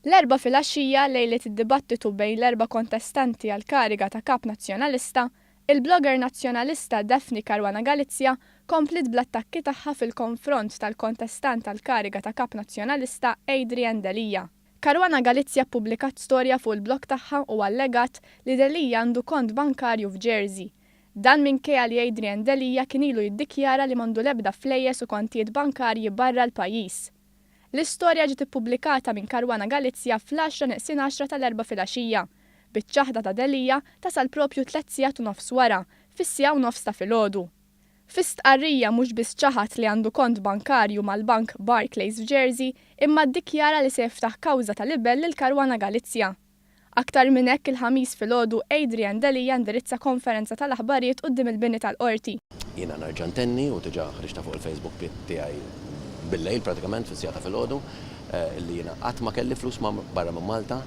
L-Erbgħa filgħaxija, lejlet id-dibattitu bejn l-erba' kontestanti għall-kariga ta' Kap Nazzjonalista, il-blogger Nazzjonalista Daphne Caruana Galizia kompliet bl-attakki tagħha fil-konfront tal-kontestant għall-kariga ta' Kap Nazzjonalista Adrian Delia. Caruana Galizia ppubblikat storja fuq il-blog tagħha u allegat li Delia għandu kont bankarju f'Jersey, Dan minkejja li Adrian Delia kien ilu jiddikjara li m'għandu l-ebda flejjes u kontijiet bankarji barra l-pajjiż. L-istorja ġiet ippubblikata minn Caruana Galizia fl-għaxra neqsin għaxra tal-Erbgħa filgħaxija, biċ-ċaħda ta' Delia tasal proprju tliet sigħat u nofs wara, fis-siegħa u nofs ta' filgħodu. Fi stqarrija mhux biss ċaħad li għandu kont bankarju mal-bank Barclays f'Jersey, imma ddikjara li se jiftaħ kawża ta' libell lil Caruana Galizia. Aktar minn hekk, il-Ħamis filgħodu, Adrian Delia ndirizza konferenza tal-aħbarijiet quddiem il-bini tal-Qorti. Jiena nerġa' ntenni, u diġà ħriġtha fuq il-Facebook tiegħi bil-lejl prattikament, fis-siegħa ta' filgħodu, li jiena qatt ma kelli flus barra minn Malta.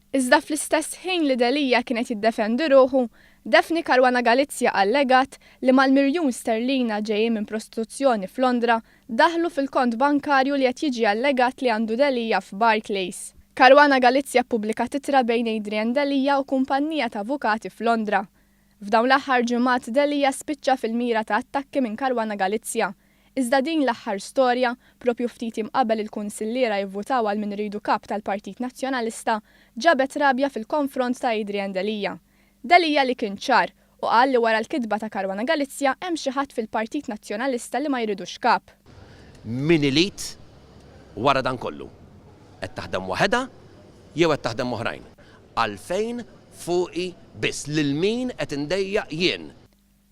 Iżda fl-istess ħin li Delia kien qed jiddefendi ruħu, Daphne Caruana Galizia allegat li mal-miljun sterlina ġejjin minn prostituzzjoni f'Londra, daħlu fil-kont bankarju li qed jiġi allegat li għandu Delia f'Barclays. Caruana Galizia ppubblikat ittra bejn Adrian Delia u kumpannija ta' avukati f'Londra. F'dawn l-aħħar ġimgħat Delia spiċċa fil-mira ta' attakki minn Caruana Galizia. Iżda din l-aħħar storja, proprju ftit jiem qabel il-kunsilliera jivvutaw għal min iridu kap tal-Partit Nazzjonalista, ġabet rabja fil-konfront ta' Adrian Delia. Delia li kien ċar u qal li wara l-kitba ta' Caruana Galizia hemm xi ħadd fil-Partit Nazzjonalista li ma jridux kap. Min ilid wara dan kollu? Qed taħdem waħedha jew qed taħdem m'oħrajn? Għalfejn fuqi biss? Lil min qed indejjaq jien?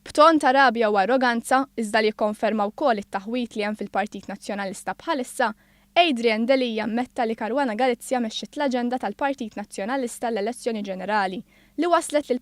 B'ton ta' rabja u arroganza, iżda li jikkonferma wkoll it-taħwid li hemm fil-Partit Nazzjonalista bħalissa, Adrian Delia ammetta li Caruana Galizia mexxiet l-aġenda tal-Partit Nazzjonalista għall-elezzjoni ġenerali li wasslet lil